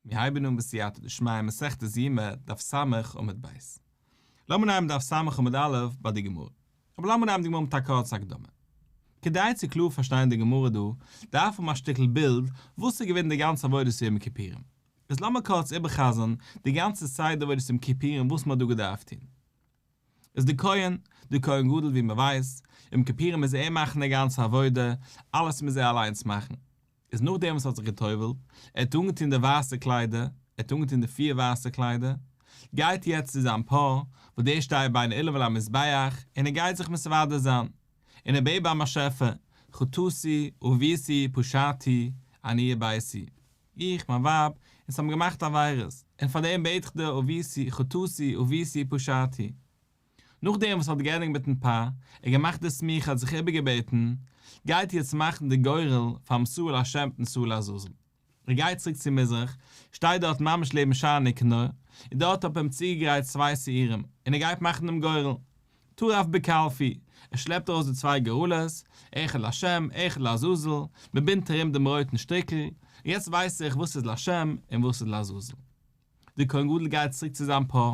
מיר הייבן אן בסייעתא דשמיא מסכת יומא דף ס' עמוד ב'. לאמיר נייען דף ס' עמוד א' ביי די גמרא. אבער לאמיר נייען די גמרא מיט א קורצע הקדמה. כדי צו קלאר פארשטיין די גמרא דא, דארף מען האבן א שטיקל בילד וואס איז געווען די גאנצע עבודת יום כיפורים. איז לאמיר קורץ איבער'חזר'ן די גאנצע סדר עבודת יום כיפורים וואס מען האט דא געדארפט טון. איז די כהן, די כהן גדול ווי מען ווייסט, יום כפירים מוז ער מאכן די גאנצע עבודה, אלעס מוז ער אליינס מאכן. איז נאכדעם וואס ער האט זיך גע'טובל'ט, ער האט אנגעטון די ווייסע קליידער, ער האט אנגעטון די פיר ווייסע קליידער, גייט יעצט צו זיין פאה, וואס דער שטייט ביין עילבון למזבח, און ער גייט זיך מסדר זיין, און ער בעט ביים באשעפער, חטאתי, עוויתי, פשעתי, עניי ביתי. איך, מיין ווייב, אונז האבן געמאכט עבירות, און פאר דעם בעט איך דיר ובעשי חטאתי ובעשי פשעתי. נאך דעם וואס ער האט געענדיגט מיטן פא, און געמאכט די סמיכה האט זיך איבערגעבעטן, גייט איר יעצט מאכן די גורל פאר מסור להשם מיט מסור לעזאזל. ער גייט צוריק צו מזרח, שטייט דארט ממש לעבן שער נקנה, און דארט האט מען אים צוגעגרייט צוויי שעירים, און ער גייט מאכן דעם גורל. טרף בקלפי, ער שלעפט ארויס די צוויי גורלות, אחד לשם, אחד לעזאזל, מען בינדט ארום דעם רויטן שטריקל, און יעצט ווייס איך וואס איז לשם און וואס איז לעזאזל. דער כהן גדול גייט צוריק צו זיין פאה,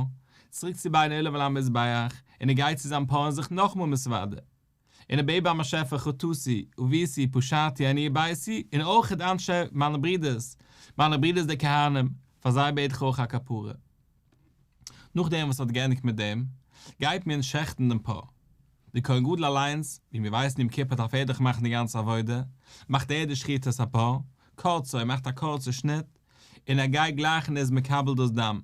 צוריק צו ביידן עולה ועל המזבח, און ער גייט צו זיין פאה און זוכט נאכמאל מסודר, און ער בעט ביים באשעפער חטאתי, עוויתי, פשעתי, עניי ביתי, און אויך אנ ש מיינע ברידערס, מיינע ברידערס די כהנים, פאר זיי בעט איך אויך א כפרה. נאכדעם וואס ער האט געענדיגט מיט דעם, גייט מען שעכטן דעם פאה. דער כהן גדול אליינס, ווי מיר ווייסן יום כיפור דארף ער דאך מאכן די גאנצע עבודה, מאכט ער די שחיטת הפאה, קורצו ער מאכט א קורצע שניט, און ער גייט גלייך און איז מקבל דאס דם.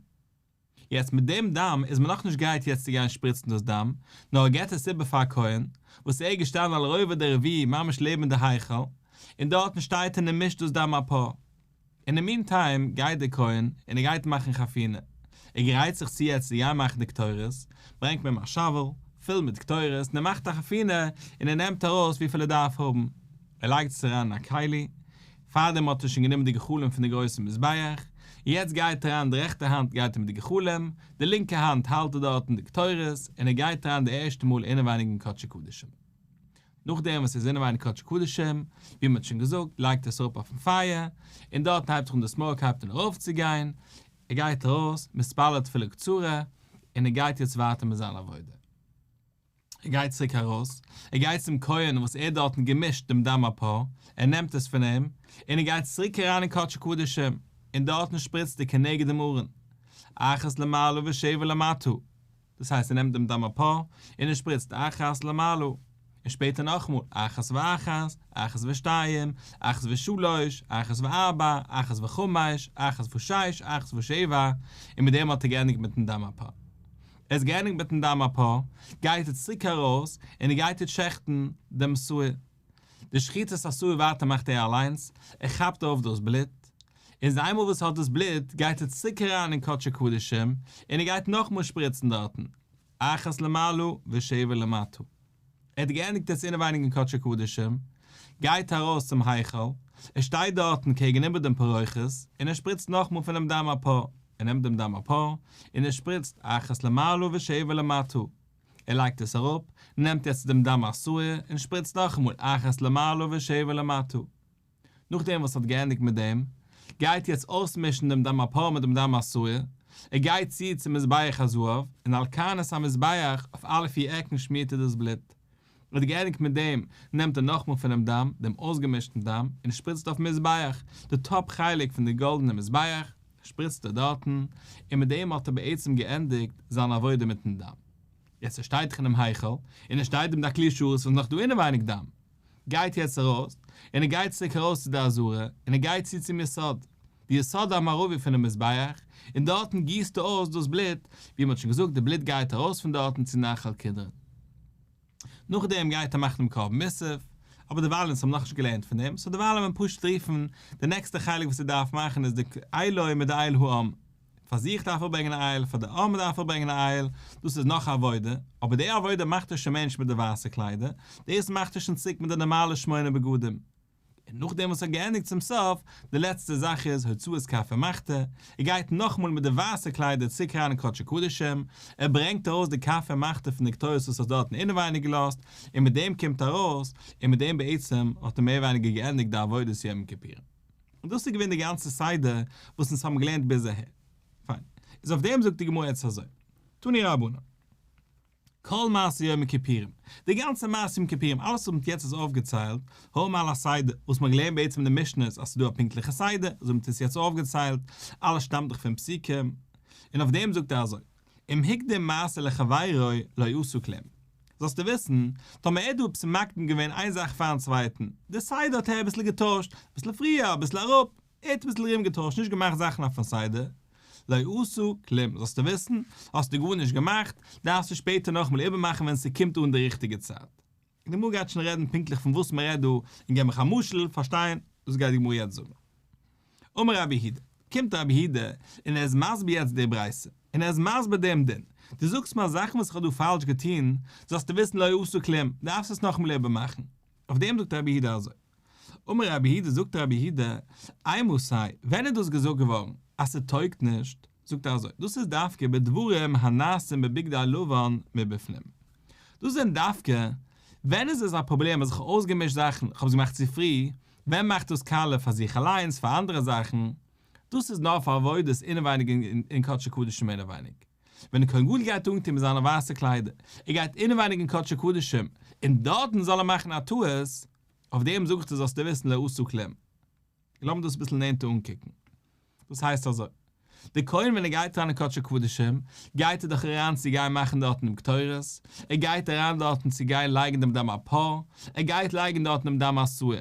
יעצט מיט דעם דם איז מען נאכנישט גרייט יעצט צו גיין שפריצן דאס דם, נאר ער געבט עס איבער פאר כהן, וואס ער איז געשטאנען על רובע דרביעי ממש לעבן די היכל, און דארטן שטייט און ער מישט דאס דם הפאה. אין די מין טיים גייט דער כהן און ער גייט מאכן חפינה, ער גרייט זיך צו יעצט צו גיין מאכן די קטורת, ברענגט מען אים א שאוועל פול מיט קטורת און ער מאכט א חפינה און ער נעמט ארויס וויפיל ער דארף האבן, ער לייגט עס אריין אין א כלי, פארדעם האט ער שוין גענומען די גחלים פון די גרויסע מזבח, יעצט גייט אריין די רעכטע האנט גייט איר מיט די גחלים, די לינקע האנט האלט ער דארטן די קטורת און ער גייט אריין די ערשטע מאל אינעווייניג אין קדשי קדשים. נאכדעם וואס עס איז אינעווייניג קדש קדשים, ווי מען האט שוין געזאגט, לייגט ער עס אראפ אויפן פייער, און דארטן הייבט זיך אן די סמאוק הייבט אן ארויפצוגיין, ער גייט ארויס, מתפלל תפילה קצרה, און ער גייט יעצט ווייטער מיט זיין עבודה. ער גייט צוריק ארויס, ער גייט צום כהן וואס ער האט דארטן געמישט דעם דם הפר, ער נעמט עס פון אים, און ער גייט צוריק אריין אין קדש קדשים, און דארטן שפריצט ער כנגד דעם ארון, אחת למעלה ושבע למטה. דאס הייסט ער נעמט דעם דם אפאר און ער שפריצט אחת למעלה און שפעטער נאכאמאל אחת ואחת אחת ושתיים אחת ושלוש אחת וארבע אחת וחמש אחת ושש אחת ושבע און מיט דעם האט ער געענדיגט מיטן דם אפאר ער האט געענדיגט מיטן דם אפאר גייט ער צוריק ארויס און ער גייט יעצט שעכטן דעם שעור די שחיטה איז אסור ווייטער מאכט ער אליינס, ער כאפט אויף דאס בלוט, און זיי איינמאל וואס ער האט דאס בלוט גייט ער צוריק אריין אין קדשי קדשים און ער גייט נאכמאל שפריצן דארטן, אחת למעלה ושבע למטה. ער האט געענדיגט עס אינעווייניג אין קדשי קדשים, גייט ארויס צום היכל, ער שטייט דארטן קעגן איבער דעם פרוכת און ער שפריצט נאכמאל פונעם דם הפר, ער נעמט דעם דם הפר און ער שפריצט אחת למעלה ושבע למטה, ער לייגט עס אראפ, נעמט יעצט דעם דם הסוער און שפריצט נאכאמאל אחת למעלה ושבע למטה. נאכדעם וואס ער האט געענדיגט מיט דעם, גייט יעצט אויסמישן דעם דם הפרה מיט דעם דם הסוער, ער גייט צו צום מזבח הזהב, און על כנס המזבח אויף אלע פיר עקן שמירט ער דאס בלוט, מען האט געענדיגט מיט דעם, נעמט ער נאכמאל פונעם דם, דעם אויסגעמישטן דם, און שפריצט אויפן מזבח, די טאפ חלק פון די גאלדענע מזבח, שפריצט ער דארטן, און מיט דעם האט ער בעצם געענדיגט זיין עבודה מיטן דם. יעצט ער שטייט דאך אינעם היכל, און עס שטייט אים דאך כלי שרת וואס איז נאך דא אינעווייניג דם. גייט יעצט ארויס, און ער גייט צוריק ארויס צו די עזרה, און ער גייט צו צום יסוד, די יסוד המערבי פונעם מזבח, און דארטן גיסט ער אויס דאס בלוט, ווי מען האט שוין געזאגט, די בלוט גייט ארויס פון דארטן צו נחל קדרון. נאכדעם גייט ער מאכן דעם קרבן מוסף, אבער דערווייל אונז האבן נאכנישט געלערנט פון דעם, סאו דערווייל וועל מען פשוט רופן די נעקסטע חלק וואס ער דארף מאכן איז די עילוי מיט די עיל האם, פאר זיך דארף ער ברענגען א עיל, פאר די האם דארף ער ברענגען א עיל, דאס איז נאך א עבודה, אבער די עבודה מאכט ער שוין מענטש מיט די ווייסע קליידער, דאס מאכט ער שוין צוריק מיט די נארמאלע שמונה בגדים. און נאכדעם וואס ער האט געענדיגט צום סוף, די לעצטע זאך איז הוצאת כפר מכתה, ער גייט נאכאמאל מיט די ווייסע קליידער צוריק אריין אין קדשי קדשים, ער ברענגט ארויס די כפר מכתה פון די קטורת וואס ער האט דארטן אינעווייניג געלאזט, און מיט דעם קומט ארויס, און מיט דעם בעצם האט ער מער ווייניגער געענדיגט די עבודת יום כיפור. און דאס איז געווען די גאנצע סדר וואס אונז האבן געלערנט ביז אהער. פיין. איז אויף דעם זאגט די גמרא יעצט אזוי, תני רבנן. כל מעשה יום הכיפורים, די גאנצע מעשה יום כיפורים, אלעס וואס מ'האט יעצט איז אויפגעציילט, הא מעל הסדר, וואס מ'האט געלערנט בעצם אין די משניות אז ס'איז דא א פונקטליכע סדר, אזוי ווי מ'האט עס יעצט אויפגעציילט, אלעס שטאמט דאך פון פסוקים, און אויף דעם זאגט ער אזוי, אם הקדים מעשה לחבירו לא יעשו כלום. זאלסטו וויסן, טאמער ער האט דא עפעס מקדים געווען איין זאך פארן צווייטן, די סדר האט ער אביסל געטוישט, אביסל פריער, אביסל אראפ, ער האט אביסל רום געטוישט, נישט געמאכט זאכן אויפן סדר, לא עשו כלום, זאלסטו וויסן, האסטו גארנישט געמאכט, דארפסטו שפעטער נאכאמאל איבערמאכן ווען ס'קומט אן די ריכטיגע צייט. די גמרא גייט שוין רעדן פונקטליך פון וואס מ'רעדט דא, און געב מיך א משל, פארשטיין, דאס גייט די גמרא יעצט זאגן. אמר רבי יהודה, קומט רבי יהודה און ער איז מסביר יעצט די ברייתא, און ער איז מסביר דעם דין, דו זאגסט מיר אז זאכן וואס איך האב דא פאלש געטון, זאלסטו וויסן לא עשו כלום, דארפסט עס נאכאמאל איבערמאכן. אויף דעם זאגט רבי יהודה אזוי. אמר רבי יהודה, זאגט רבי יהודה, אי מוסאי, ווען איז דאס געזאגט געווארן אז ס'טויגט נישט? זאגט ער אזוי, דאס איז דווקא בדברים הנעשים בבגדי הלבן מבפנים. דאס זענען דווקא ווען איז איז א פראבלעם, אז איך האב אויסגעמישט זאכן, איך האב עס געמאכט צו פרי, ווען מאכט דאס קאלער פאר זיך אליינס, פאר אנדערע זאכן, דאס איז נאר פאר עבודות אינעווייניג אין קדשי קדשים אינעווייניג. ווען די כהן גדול גייט אנטון מיט זיינע ווייסע קליידער, ער גייט אינעווייניג אין קדשי קדשים, און דארטן זאל ער מאכן א טעות, אויף דעם זאגסטו זאלסטו וויסן לעשות כלים. לאמיר דאס אביסל נענטער אנקוקן. דאס הייסט אזוי. דער כהן ווען ער גייט אריין אין קדשי קדשים, גייט ער דאך אריין צו גיין מאכן דארטן דעם קטורת, ער גייט אריין דארטן צו גיין לייגן דעם דם הפר, ער גייט לייגן דארטן דעם דם השעיר.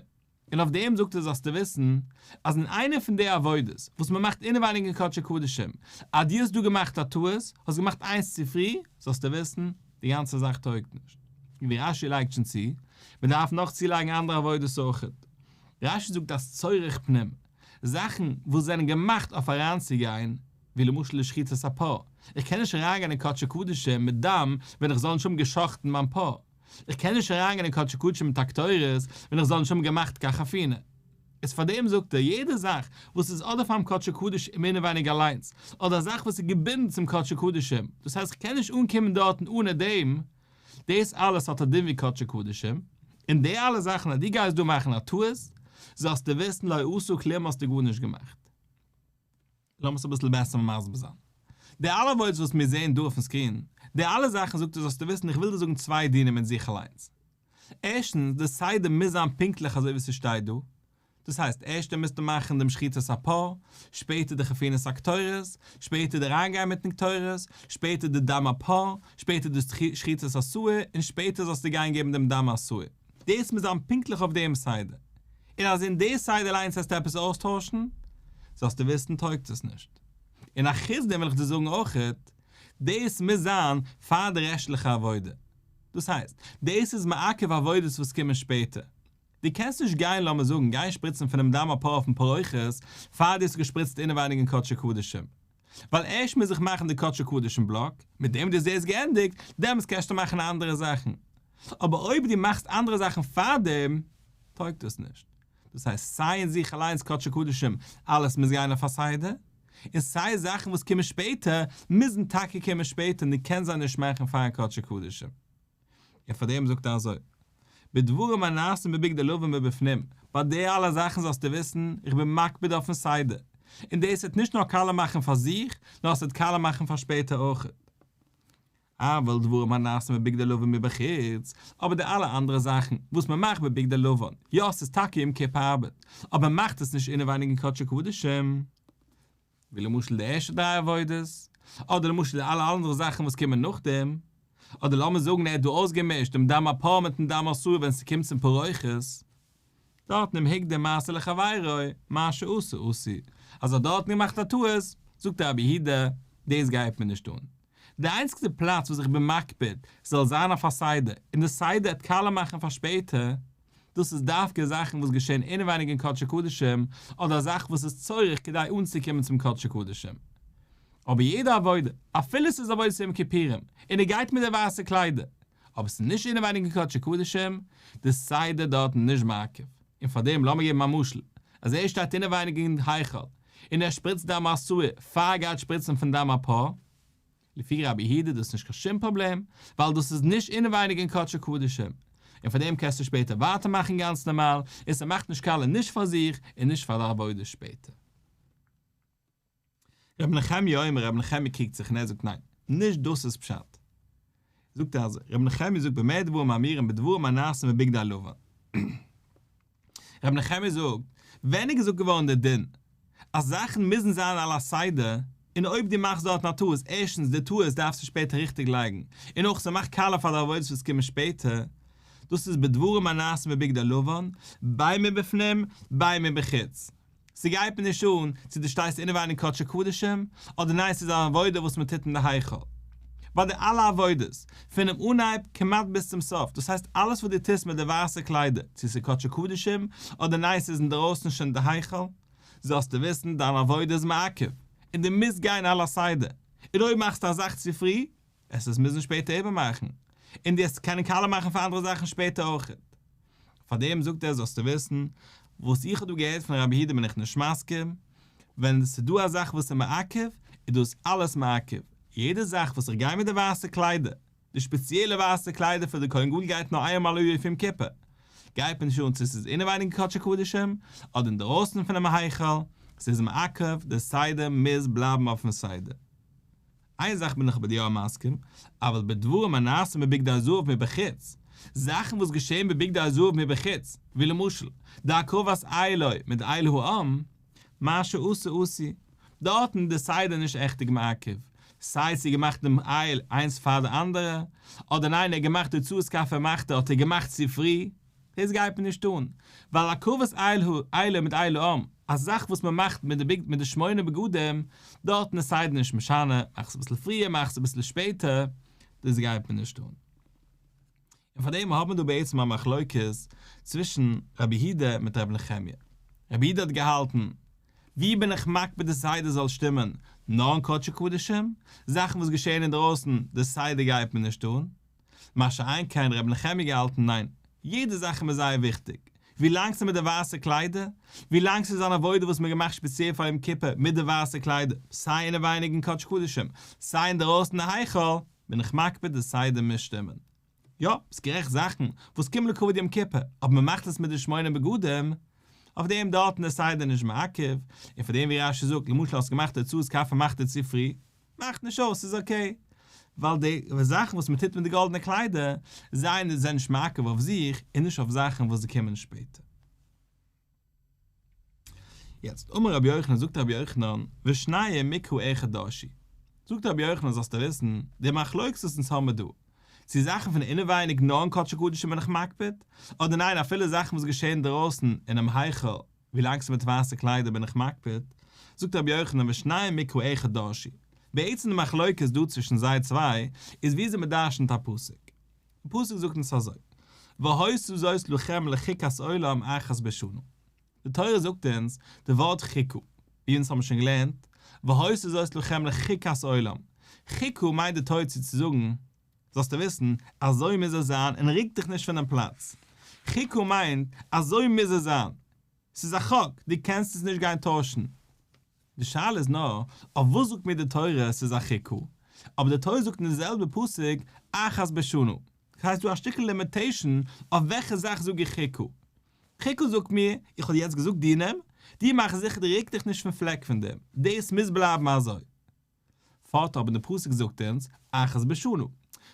און אויף דעם זאגסטו זאלסטו וויסן, אז אין איינע פון די עבודות וואס מען מאכט אינעווייניג אין קדשי קדשים, אז דו האסט דא געמאכט א טעות, האסט געמאכט איינס צופרי, זאלסטו וויסן, די גאנצע זאך טויגט נישט. ווי רש י לייגט שוין צו, מען דארף נאך צולייגן אנדערע עבודות אויכעט. רש י זאגט אז צורך פנים, זאכן וואס זענען געמאכט אויף אריינצוגיין, ווי למשל די שחיטת הפאה, איך קען נישט אריינגיין אין קדשי קדשים מיט דם ווען איך זאל נישט האבן גע'שחט'ן מיין פאה, איך קען נישט אריינגיין אין קדשי קדשים מיט הקטורת ווען איך זאל נישט האבן געמאכט קאך אויף אינער. איז פאר דעם זאגט ער, יעדע זאך וואס איז אדער פאר'ן קדשו קדשים מער נאר ווייניגער אליינס, אדער א זאך וואס איז געבינדן צום קדשו קדשים, דאס הייסט כ'קען נישט אנקומען דארטן אנע דעם, דאס אלעס האט א דין ווי קדשו קדשים, און די אלע זאכן אז דו גייסט דא מאכן א טעות, זאלסטו וויסן לא עשו כלום האסטו גארנישט געמאכט. לאמיר עס אביסל בעסער מסביר זיין. די אלע וואויטס וואס מיר זעען דא אויפן סקרין, די אלע זאכן זאגט ער זאלסטו וויסן איך וויל דיר זאגן צוויי דינים מיט זיך אליינס. ערשטנס, די סדר מוז זיין פונקטליך אזוי ווי ס'שטייט דא. דאס הייסט, ערשטער מוזטו מאכן דעם שחיטת הפר, שפעטער די חפינת הקטורת, שפעטער די אריינגיין מיטן קטורת, שפעטער די דם הפר, שפעטער די שחיטת השעור, און שפעטער זאלסטו גיין געבן דעם דם השעור. דאס מוז זיין פונקטליך אויף דעם סדר, און אז אין די סדר אליינס העסטו עפעס אויסטוישן, זאלסטו וויסן טויגט עס נישט. און א חוץ דעם וויל איך דיר זאגן אויכעט, דאס מוז זיין פאר די רעשטליכע עבודה. דאס הייסט, דאס איז מעכב עבודות וואס קומען שפעטער. דו קענסט נישט גיין, לאמיר זאגן, גיין שפריצן פונעם דם הפרה אויפן פרוכת, פאר דו האסט געשפריצט אינעווייניג אין קדשי קדשים. ווייל ערשט מוז איך מאכן די קדשו קדישין בלאק, מיט דעם וואס דו זעסט געענדיגט, דעמאלטס קענסטו מאכן אנדערע זאכן. אבער אויב דו מאכסט אנדערע זאכן פארדעם, טויגט דאס נישט. דאס הייסט, סיי אין זיך אליינס קדשו קדישים, אלעס מוז גיין אויף א סדר, און סיי זאכן וואס קומען שפעטער, מוזן טאקע קומען שפעטער, און דו קענסט זיי נישט מאכן פאר'ן קדשו קדישים. און פאר דעם זאגט ער אזוי, בדברים הנעשים בבגדי הלבן ובפנים, ביי די אלע זאכן זאלסטו וויסן, איך בין מקפיד אויפן סדר, און דאס וועט נישט נאר קאלער מאכן פאר זיך, נאר עס וועט קאלער מאכן פאר שפעטער אויך. אבל דברים הנעשים בבגדי הלבן מבחוץ, אבער די אלע אנדערע זאכן וואס מען מאכט בבגדי הלבן, יא עס איז טאקע יום כיפור ארבעט, אבער מען מאכט עס נישט אינעווייניג אין קדשי קדשים, ווי למשל די ערשטע דריי עבודות, אדער למשל די אלע אנדערע זאכן וואס קומען נאכדעם, אדער לאמיר זאגן ער האט דא אויסגעמישט דעם דם הפרה מיטן דם האסור ווען ס'קומט צום פרוכת, דארטן אום הג די מעשה לחבירו, מה שעשה עשי, אז ער האט דארטן געמאכט א טעות, זאגט דער רבי הי ד, דאס גייט מיר נישט אן. די איינציגסטע פלאץ וואס איך בין מקפיד ס'זאל זיין אויף א סדר, און די סדר את קלה מאכן פאר שפעטער, דאס איז דווקא זאכן וואס געשעהן אינעווייניג אין קדשי קדשים, אדער א זאך וואס איז צריך כדי אנצוקומען צום קדשי קדשים. אבער יעדע עבודה, אפילו ס'איז עבודת יום כיפורים, און ער גייט מיט די ווייסע קליידער, אבער ס'איז נישט אינעווייניג אין קדשי קדשים, די סדר דארטן איז נישט מעכב. און פאר דעם לאמיר געבן א משל, אז ער שטייט אינעווייניג אין היכל, און ער שפריצט דם עשוי, פאר ער גייט שפריצן פון דם הפאה, לפי רבי יהודה איז דאס נישט קיין שום פראבלעם, ווייל דאס איז נישט אינעווייניג אין קדשי קדשים, און פאר דעם קענסטו שפעטער ווייטער מאכן גאנץ נארמאל, און ס'מאכט נישט קאלער נישט פאר זיך און נישט פאר די עבודה שפעטער. רבי נחמיה אומר רבי נחמיה קריגט זיך און ער זאגט ניין, נישט דאס איז פשט. זאגט ער אזוי, רבי נחמיה זאגט במה דברים מאמירים בדברים הנעשים בבגדי הלבן. ר' נחמיה זאגט, ווען איז געזאגט געווארן דער דין אז זאכן מוזן זיין על הסדר, און אויב דו מאכסט דארטן א טעות, ערשטנס די טעות דארפסטו שפעטער ריכטיג לייגן, און אויך ס'מאכט קאלער פאר די עבודות וואס קומען שפעטער, דאס איז בדברים הנעשים בבגדי לבן, בימים בפנים, בימים בחוץ. ס'גייט מיר נישט אן צו דו שטייסט אינעווייניג קדשי קדשים אדער ניין ס'איז אן עבודה וואס מען טוט אין די היכל. ביי די אלע עבודות, פונעם אנהייב כמעט ביז צום סוף, דאס הייסט אלעס וואס דו טוסט מיט די ווייסע קליידער, צו ס'איז קדשי קדשים אדער ניין ס'איז אינדערויסן שוין די היכל, זאלסטו וויסן דיין עבודה איז מעכב, און דו מוזט גיין על הסדר, און אויב מאכסטו א זאך צו פרי, עס איז מוזן שפעטער איבערמאכן, און דו האסט קענען קאלער מאכן פאר אנדערע זאכן שפעטער אויכעט. פאר דעם זאגט ער זאלסטו וויסן, וואס איך האב דא געהערט פון רבי יהודה בין איך נישט מסכים, ווען עס איז דא א זאך וואס איז מעכב, איז דאס אלעס מעכב, יעדע זאך וואס איך גיי מיט די ווייסע קליידער, די שפעציעלע ווייסע קליידער פון די כהן גדול גייט נאר איין מאל א יאר פום כיפור, גייט מען נישט אן צו עס איז אינעווייניג אין קדשי קדשים אדער אינדערויסן פונעם היכל, עס איז מעכב, די סדר מוז בלייבן אויפן סדר. איין זאך בין איך מיט דיר מסכים, אבל בדברים הנעשים בבגדי הזהב מבחוץ, זאכן וואס געשעהן בבגדי הזהב מבחוץ, ווי למשל, די הקרבת עי' לו מיט די עי' העם, מה שעשה עשי, דארטן די סדר נישט עכט מעכב, סיי ס'איז געמאכט דעם עי' איינס פאר די אנדערע, אדער ניין ער האט געמאכט די צואת כפר מאכט ער האט ער געמאכט צופרי, דאס גייט מען נישט טון, ווייל הקרבת עיל הוא עילה מיט עילה אום, א זאך וואס מען מאכט מיט די מיט די שמונה בגדים, דארטן איז סיידן נישט משנה, מאך עס אביסל פריער מאך עס אביסל שפעטער, דאס גייט מען נישט טון. און פאר דעם האט מען דא בעצם א מחלוקת צווישן רבי יהודה מיט רבי נחמיה. רבי יהודה האט געהאלטן, ווי בין איך מקפיד די סדר זאל שטימען, נאר אין קדשי קדשים, זאכן וואס געשעהן אינדרויסן, די סדר גייט מען נישט טון, מה שאין כן רבי נחמיה געהאלטן ניין, יעדע זאך איז מיר זייער וויכטיג, ווי לאנג ס'איז מיט די ווייסע קליידער, ווי לאנג ס'איז אן עבודה וואס מ'האט געמאכט ספעציעל פאר יום כיפור מיט די ווייסע קליידער, סיי אינעווייניג אין קודש קדשים, סיי אינדערויסן אין היכל, בין איך מקפיד די סדר מוז שטימען. יא, ביסט גערעכט זאכן וואס קומען לכבוד יום כיפור, אבער מ'מאכט עס מיט די שמונה בגדים, אויף דעם דארטן איז סדר נישט מעכב, און פאר דעם ווי רש י זאגט, למשל האסט געמאכט תוצאות קפה מאכט ער צופרי, מאכט נישט אויס, ס'איז אקעי. ווייל די זאכן וואס מען טוט מיט די גאלדענע קליידער, זיי זענען נישט מעכב אויף זיך, און נישט אויף זאכן וואס קומען שפעטער. יעצט, אמר רבי יוחנן, זאגט רבי יוחנן, ושניהם מקרא איכא דאישי. זאגט רבי יוחנן, זאלסטו וויסן, די מחלוקת וואס אונז האבן דא, צו זאכן פון אינעווייניג נאר אין קדשי קדשים בין איך מקפיד, אדער ניין אפילו זאכן וואס געשעען אינדרויסן אינעם היכל ווילאנג ס'איז מיט ווייסע קליידער בין איך מקפיד, זאגט רבי יוחנן ושניהם מקוה אחד דרשי, בעצם די מחלוקת דא צווישן זיי צוויי איז ווי זי מדרשנ'ט א פסוק, די פסוק זאגט אונז אזוי, והיסעו זאת לכם לחיקת עולם אחת בשנה, די תורה זאגט אונז די ווארט חיקו, ווי אונז האבן שוין געלערנט, והיסעו זאת לכם לחיקת עולם, חיקו מיינט די תורה צו צו זאגן, זאלסטו וויסן, אזוי מוז עס זיין און ריק דיך נישט פונעם פלאץ. חוקה מיינט, אזוי מוז עס זיין. ס'איז א חוק, דו קענסט עס נישט גיין טוישן. די שאלה איז נאר, אויף וואס זאגט מיר די תורה ס'איז א חוקה? אבער די תורה זאגט אין די זעלבע פסוק אחת בשנה. ס'הייסט דא א שטיקל לימיטעישן אויף וועלכע זאך זאג איך חוקה. חוקה זאגט מיר, איך האב יעצט געזאגט דינים, דו מאך זיכער דו ריק דיך נישט פון פלעק פון דעם. דאס מוז בלייבן אזוי. פארט אבער די פסוק זאגט אונז אחת בשנה,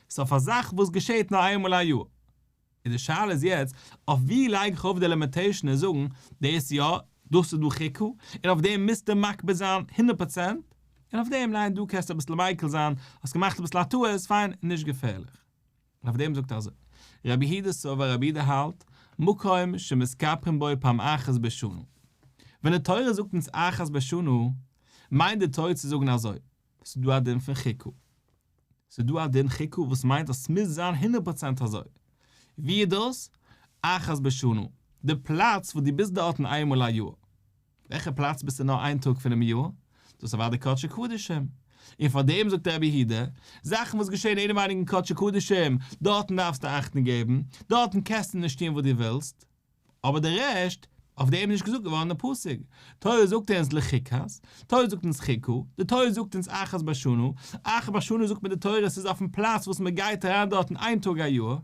ס'איז אויף א זאך וואס געשעהט נאר איינמאל א יאר, און די שאלה איז יעצט אויף ווי לייג איך אויף די לימיטעישן און זאגן דאס יא, דאס איז דא ח כ, און אויף דעם מוזטו מקפיד זיין הונדערט פראצענט, און אויף דעם ניין דא קענסטו אביסל מיקל זיין, האסט געמאכט אביסל א טעות, פיין, נישט געפערליך. און אויף דעם זאגט ער אזוי, רבי הידא סובר, רבי הידא האלט, מקום שמסתפחין בו פעם אחת בשנה. ווען די תורה זאגט אונז אחת בשנה, מיינט די תורה צו זאגן אזוי, ס'איז דא א דין פון חיקו. ס'איז דא א דין חיקו וואס מיינט אז ס'מוז זיין הונדערט פראצענט אזוי. ווי איז דאס? אחת בשנה. די פלאץ וואס דו ביסט דארטן איינמאל א יאר. וועלכע פלאץ ביסטו נאר איין טאג פונעם יאר? דאס איז אוודאי קדשי קדשים. און פאר דעם זאגט רבי יהודה, זאכן וואס געשעהן אינעווייניג אין קדשי קדשים, דארטן דארפסטו אכטונג געבן, דארטן קעסטו נישט טון וואס דו ווילסט, אבער די רעשט, אויף דעם איז נישט געזאגט געווארן אין פסוק, תורה זאגט אונז לחיקת, תורה זאגט אונז חיקו, די תורה זאגט אונז אחת בשנה, אחת בשנה זאגט מיר די תורה ס'איז אויפן פלאץ וואס מ'גייט אריין דארטן איין טאג א יאר,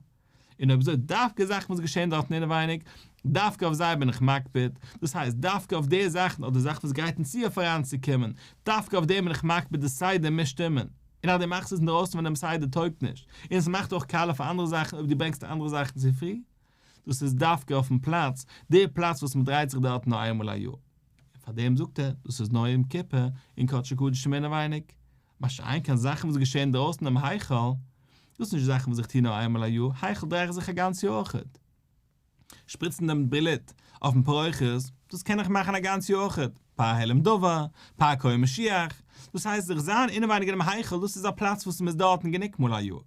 און אויב אזוי דווקא זאכן וואס געשעהן דארטן אינעווייניג, דווקא אויף זיי בין איך מקפיד, דאס הייסט דווקא אויף די זאכן אדער זאכן וואס גרייטן צו אויף אריינצוקומען, דווקא אויף דעם בין איך מקפיד די סדר מוז שטימען, און אז דו מאכסט עס אינדרויסן פון דעם סדר טויגט נישט, און עס מאכט אויך קאלע פאר אנדערע זאכן אויב דו ברענגסט די אנדערע זאכן צו פרי, דאס איז דווקא אויפן פלאץ, די פלאץ וואס מען דרייט זיך דארט נאר איינמאל א יאר, און פאר דעם זאגט ער דאס איז נאר יום כיפור און קדשי קדשים אינעווייניג. מה שאין כן זאכן וואס געשעהן אינדרויסן דעם היכל, דאס איז נישט זאכן וואס איך טוה נאר איינמאל א יאר, היכל דרייעך זיך א גאנץ יאר אויכעט. שפריצן דעם בלוט אויפן פרוכת, דאס קען איך מאכן א גאנץ יאר אויכעט, פאר העלם דבר, פאר קוה משיח, דאס הייסט זיך זיין אינעווייניג אינעם היכל, דאס איז א פלאץ וואס מ'איז דארטן גענוג מאל א יאר.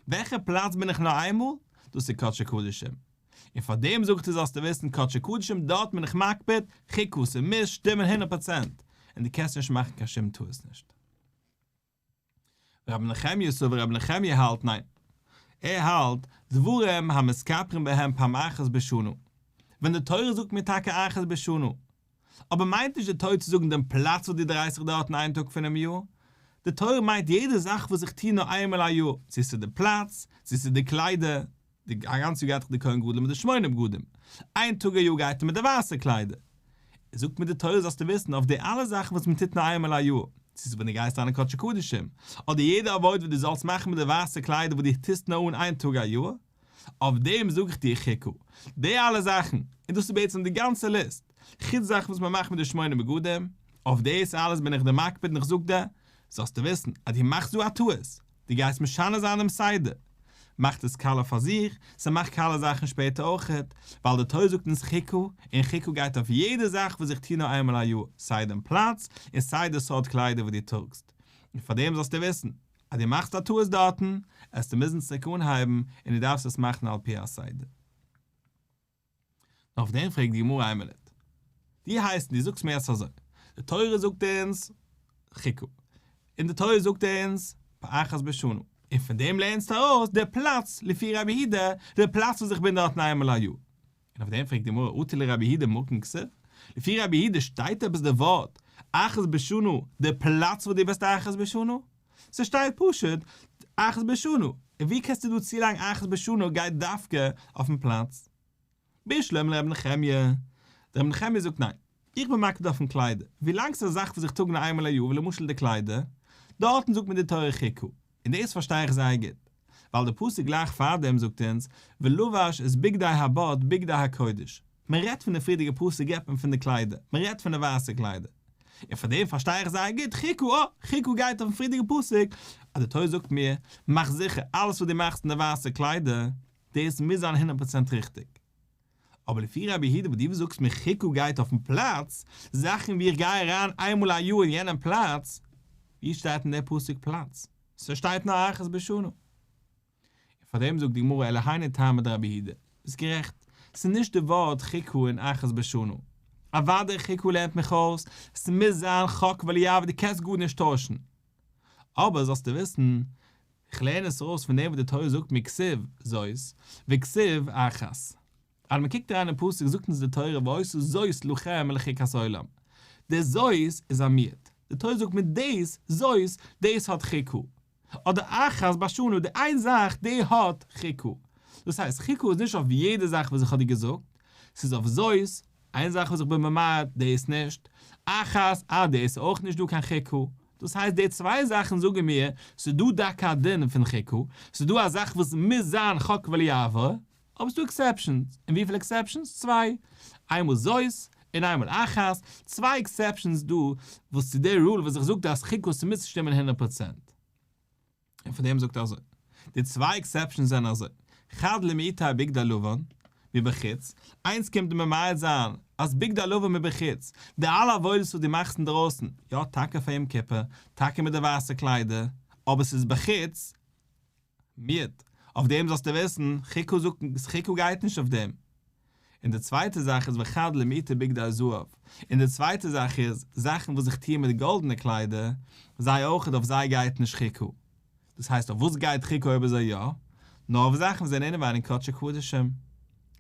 וועלכע פלאץ בין איך נאר איינמאל? דאס איז קדשי קדשים. און פאר דעם זאגט ער זאלסטו וויסן קדשי קדשים דארט בין איך מקפיד חיקו ס'מוז שטימען הונדערט פראצענט און די קענסט נישט מאכן קיין שום טעות נישט רבי נחמיה סאו רבי נחמיה האלט ניין ער האלט דברים המסתפרים בהם פעם אחת בשנה ווען די תורה זאגט מיר טאקע אחת בשנה אבער מיינט נישט די תורה צו זאגן דעם פלאץ וואס דו דרייסט זיך דארט אין איין טאג פונעם יאר. די תורה מיינט יעדע זאך וואס איך טוה נאר איינמאל א יאר, צו ס'איז די פלאץ, צו ס'איז די קליידער, די א גאנץ יאר גייט דאך די כהן גדול מיט די שמונה בגדים, איין טאג א יאר גייט ער מיט די ווייסע קליידער. זאגט מיר די תורה זאלסטו וויסן אויף די אלע זאכן וואס מ'טוט נאר איינמאל א יאר, צו ס'איז ווען דו גייסט אריין אין קדשי קדשים, אדער יעדע עבודה וואס דו זאלסט מאכן מיט די ווייסע קליידער וואס דו טוסט נאר אן איין טאג א יאר, אויף דעם זאג איך דיר כ ק, די אלע זאכן, און דאס איז בעצם די גאנצע ליסט, חוץ זאכן וואס מען מאכט מיט די שמונה בגדים, אויף דאס אלעס בין איך דיר מקפיד און איך זאג דיר, זאלסטו וויסן אז דו מאכסט דא א טעות, דו גייסט משנה זיין דעם סדר. מאכט עס קאלער פאר זיך, ס'מאכט קאלער זאכן שפעטער אויכעט, ווייל די תורה זאגט אונז כ ק, און כ ק גייט אויף יעדע זאך וואס איך טו נאר איינמאל א יאר, סיי דעם פלאץ, און סיי די סארט קליידער וואס דו טראגסט. און פאר דעם זאלסטו וויסן, אז דו מאכסט א טעות דארטן, עסטו מוזן צוריק אנהייבן, און דו דארפסט עס מאכן על פי הסדר. אויף דעם פרעגט די גמרא איין מינוט. דו הייסט און דו זאגסט מיר עס אזוי, די תורה זאגט אונז חוקה, און די תורה זאגט אונז פאחת בשנה, און פון דעם לערנסטו ארויס די פלאץ לפי רבי היהודה, די פלאץ וואס איך בין דארטן איינמאל א יאר. און אויף דעם פרעגט די גמרא, אתי לרבי הידא מקום כסף, לפי רבי הידא שטייט עפעס די ווארט אחת בשנה די פלאץ וואס דו וועסט אחת בשנה? ס'שטייט פשוט אחת בשנה, און ווי קענסטו דא צולייגן אחת בשנה גייט דווקא אויפן פלאץ? בישלום לרבי נחמיה, דער רבי נחמיה זאגט ניין, איך בין מקפיד אויפן קליידער, ווילאנג ס'איז א זאך וואס איך טראג נאר איינמאל א יאר ווי למשל די קליידער, דארטן זאגט מען די תורה חיקו, און דאס פארשטיי איך זייער גוט, ווייל די פסוק גלייך פארדעם זאגט אונז, ולבש את בגדי הבד, בגדי הקודש. מען רעדט פון די פריערדיגע פאר סגפים פון די קליידער, מען רעדט פון די ווייסע קליידער. און פאר דעם פארשטיי איך זייער גוט ח כ, אה, ח כ גייט אויפן פריערדיגע פסוק, אז די תורה זאגט מיר, מאך זיכער, אלעס וואס דו מאכסט אין די ווייסע קליידער, דאס מוז זיין הונדערט פראצענט ריכטיג. אבער לפי רבי יהודה וואס דו זאגסט מיר כ ק גייט אויפן פלאץ, זאכן ווי איך גיי אריין איינמאל א יאר אין יענעם פלאץ, ווי שטייט אין די פסוק פלאץ? ס'שטייט נאר אחת בשנה. און פארדעם זאגט די גמרא אלא הני טעמא דרבי יהודה. ביסט גערעכט. ס'איז נישט די ווארט כ ק אין אחת בשנה. אוודאי כ ק לערנט מיך אויס, ס'מוז זיין חק ולא יעבור דו קענסט גארנישט טוישן. אבער זאלסטו וויסן. איך לערן עס אויס פון דעם וואס די תורה זאגט מיר כסו' זאת וכסו' אחת. אז מען קוקט אריין אין פסוק זאגט אונז די תורה ועשו זאת לכם לחוקת עולם. די זאת איז א מיעוט. די תורה זאגט מיר דאס זאת דאס האט חוק ה. אדער אחת בשנה די איין זאך די האט חוק ה. דאס הייסט חוק ה איז נישט אויף יעדע זאך וואס איך האב דיר געזאגט. ס'איז אויף זאת, איין זאך וואס איך בין ממעט דאס נישט, אחת אה דאס איז אויך נישט דא קיין חוק ה. דאס הייסט די צוויי זאכן זאגן מיר, ס'איז דא דוקא א דין פון ח ק, ס'איז דא א זאך וואס מוז זיין ח ק וליעבור, אבער ס'איז דא עקסעפשאנס, און וויפיל עקסעפשאנס? צוויי, איינמאל זאת און איינמאל אחת, צוויי עקסעפשאנס איז דא וואס צו די רול וואס זיך זאגט אז ח ק ס'מוז שטימען הונדערט פראצענט. און פון דעם זאגט ער אזוי. די צוויי עקסעפשאנס זענען אזוי, חד לאמיתא בגדי הלבן מבחוץ, איינס קומט דיר ממעט זיין אז בגדי הלבן מבחוץ, די אלע עבודות וואס דו מאכסט אינדרויסן, יא טאקע פאר יום כיפור, טאקע מיט די ווייסע קליידער, אבער ס'איז בחוץ, מיעוט, אויף דעם זאלסטו וויסן, חיקו זאגט, חיקו גייט נישט אויף דעם. און די צווייטע זאך איז וכד למעיטה בגדי זהב, און די צווייטע זאך איז זאכן וואס איך טוה מיט גאלדענע קליידער, זיי אויך אויף זיי גייט נישט ח ק, דאס הייסט אויף וואס גייט ח ק אויב אזוי יא? נאר אויף זאכן וואס זענען אינעווייניג קדשי קדשים.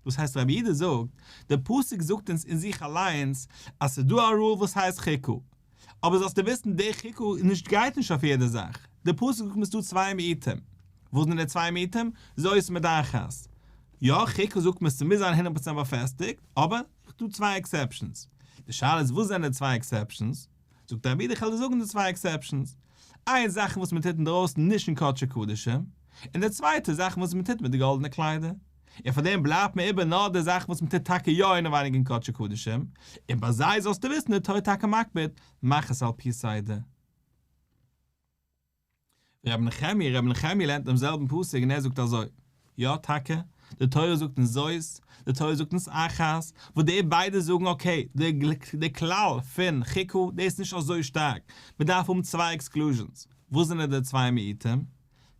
דאס הייסט רבי איד זאגט, די פסוק זאגט אונז אין זיך אליינס אז ס'איז דא א רול וואס הייסט ח ק, אבער זאלסטו וויסן די ח ק נישט גייט נישט אויף יעדע זאך, די פסוק זאגט מ'איז דא צוויי מעיטים, וואס זענען די צוויי מעיטים? זוי'ס מיט דיין חת ס. יא, חוקה זאגט מען ס'מוז זיין הונדערט פראצענט באפעסטיגט, אבער ס'דא צוויי עקסעפשאנס. די שאלה איז וואס זענען די צוויי עקסעפשאנס? זאגט די רבי די חז ל זאגן די צוויי עקסעפשאנס. איינס זאכן וואס מ'טוט אינדרויסן נישט אין קדשי קדשים, און די צווייטע זאכן וואס מ'טוט מיט די גאלדענע קליידער. און פאר דעם בלייבט מיר איבער נאר די זאכן וואס מ'טוט טאקע יא אינעווייניג אין קדשי קדשים, און ביי זיי זאלסטו וויסן די תורה איז טאקע מקפיד, מאך עס על פי סדר. ר' נחמיה, ר' נחמיה לערנט דעם זעלבן פסוק און ער זאגט אזוי, יא טאקע, די תורה זאגט אונז זאת, די תורה זאגט אונז אחת, וואס די ביידע זאגן אקעי, די כלל פון ח ק דאס איז נישט אזוי שטארק, מען דארף האבן צוויי עקסקלוזשענס, וואס זענען די צוויי מיעוטים?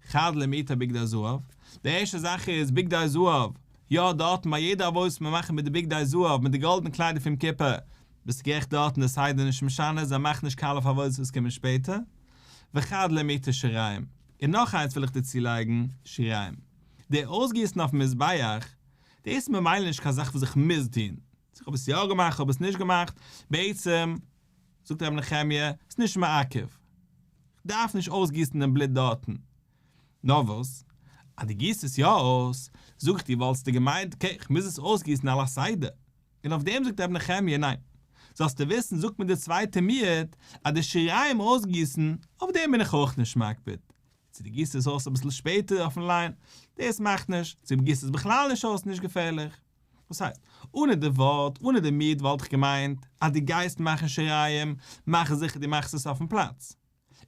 חד למיתה בגדי זהב, די ערשטע זאך איז בגדי זהב, יא דארטן ביי יעדע עבודה וואס מיר מאכן מיט די בגדי זהב, מיט די גאלדענע קליידער פון כיפה, ביסט גערעכט דארטן איז סיידן נישט משנה, זיי מאכן נישט קאלער פאר עבודות וואס קומען שפעטער, וכד' למיתה שיריים, און נאך איינס וויל איך דערצו לייגן, שיריים, די אויסגיסן אויפן מזבח, דאס איז ממילא נישט קיין זאך וואס איך מוז טון, צו כ'האב עס יא געמאכט כ'האב עס נישט געמאכט, בעצם זאגט רבי נחמיה, ס'איז נישט מעכב, כ'דארף נישט אויסגיסן דעם בלוט דארטן, נאר וואס? אז דו גיסט עס יא אויס, זאג איך דיר וואלטסטו געמיינט, אקעי כ'מוז עס אויסגיסן על הסדר, און אויף דעם זאגט רבי נחמיה, ניין, זאלסטו וויסן, זאגט מיר דער צווייטער מיעוט, אז די שיריים אויסגיסן, אויף דעם בין איך אויך נישט מקפיד, צו דו גיסט עס אויס אביסל שפעטער אויפן ליין, דאס מאכט נישט, צו דו גיסט עס בכלל נישט אויס, נישט געפערליך. וואס הייסט, אנע די ווארט, אנע די מיעוט וואלט איך געמיינט, אז דו גייסט מאכן שיריים, מאך זיכער דו מאכסט עס אויפן פלאץ.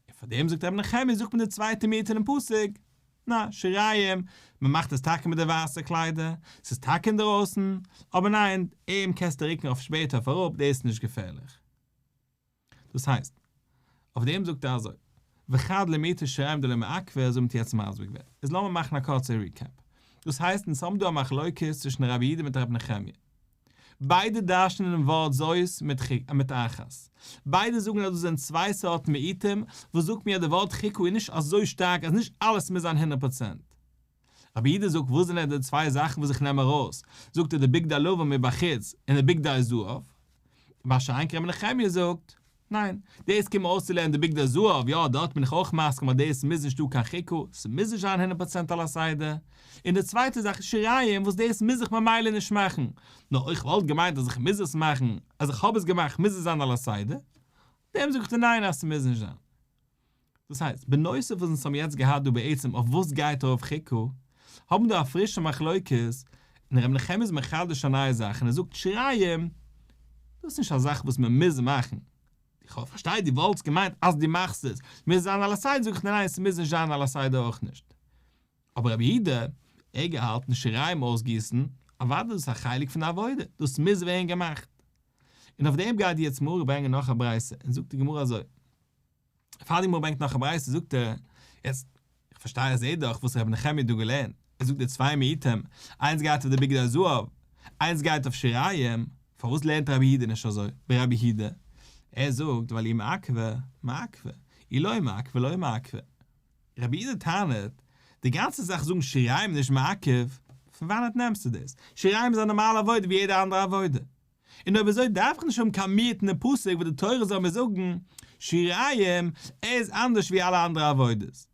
און פאר דעם זאגט רבי נחמיה זאגט מען די צווייטע מינוט אינעם פסוק נא שיריים, מען מאכט עס טאקע מיט די ווייסע קליידער, ס'איז טאקע אינדערויסן, אבער ניין, אים קענסטו רוקן אויף שפעטער אויף אראפ, דאס איז נישט געפערליך. דאס הייסט, אויף דעם זאגט ער אזוי, וכד למיתה שיריים דלא מעכבה, אזוי האבן מיר יעצט מסביר געווען. איז לאמיר מאכן א קורצע ריקעפ. דאס הייסט, אונז האבן דא א מחלוקת צווישן רבי איד מיט רבי נחמיה. ביידע דרש'נען דעם ווארט זהות מיט חיקו מיט אחת. ביידע זאגן אז דאס זענען צוויי סארטן מיעוטים, וואס זאגט מיר אז דער ווארט חיקו איז נישט אזוי שטארק אז נישט אלעס מוז זיין הונדערט פראצענט. רבי אידא זאגט וואס זענען די צוויי זאכן וואס איך נעם ארויס, זאגט ער די בגדי לבן מבחוץ און די בגדי זהב. מה שאין כן רבי נחמיה זאגט. ניין, דאס קומען אויסצולערנען די בגדי זהב, יא, דארט בין איך אויך מסכים אז דאס מוז נישט דא קיין חיקו, ס'מוז נישט זיין הונדערט פראצענט על הסדר, און די צווייטע זאך איז שיריים וואס דאס מוז איך ממילא נישט מאכן, נאר איך וואלט געמיינט אז איך מוז עס מאכן, אז איך האב עס געמאכט מוז עס זיין על הסדר, דעם זאגט ער ניין אז ס'מוז נישט זיין. דאס הייסט, בנוסף וואס אונז האבן יעצט געהאט דא בעצם אויף וואס גייט ארויף ח ק, האבן מיר דא א פרישע מחלוקת, און ר' נחמיה איז מחדש א נייע זאך און ער זאגט שריים, דאס איז נישט א זאך וואס מען מוז מאכן, איך האב פארשטייט דו וואלטסט געמיינט אז דו מאכסט עס, מוז עס זיין על הסדר זאג איך ניין ניין עס מוז נישט זיין על הסדר אויך נישט. אבער רבי אידה, ער געהאלטן שריים אויסגיסן, אוודאי דאס איז א חלק פון די עבודה, דאס מוז ווערן געמאכט. און אויף דעם גייט יעצט מהר א ברענגען נאך א ברייתא, און זאגט די גמרא אזוי. פאר די גמרא ברענגט נאך א ברייתא זאגט ער, יעצט איך פארשטיי איך זעה דאך וואס רבי נחמיה האט דא געלערנט, ער זאגט די צוויי מיעוטים, איינס גייט אויף די בגדי הזהב, איינס גייט אויף שיריים, פארוואס לערנט רבי יהודה נישט אזוי, ברבי הידע? ער זאגט ווייל אי מעכבה, מעכבה, אי לא מעכבה, לא מעכבה. רבי יהודה טענה'ט, די גאנצע זאך זאגן שיריים נישט מעכב, פון וואנעט נעמסטו דאס? שיריים איז א נארמאלע עבודה ווי יעדע אנדערע עבודה. און אויב אזוי דארף איך נישט האבן קיין מי יתן פסוק וואס די תורה זאל מיר זאגן, שיריים איז אנדערש ווי אלע אנדערע עבודות.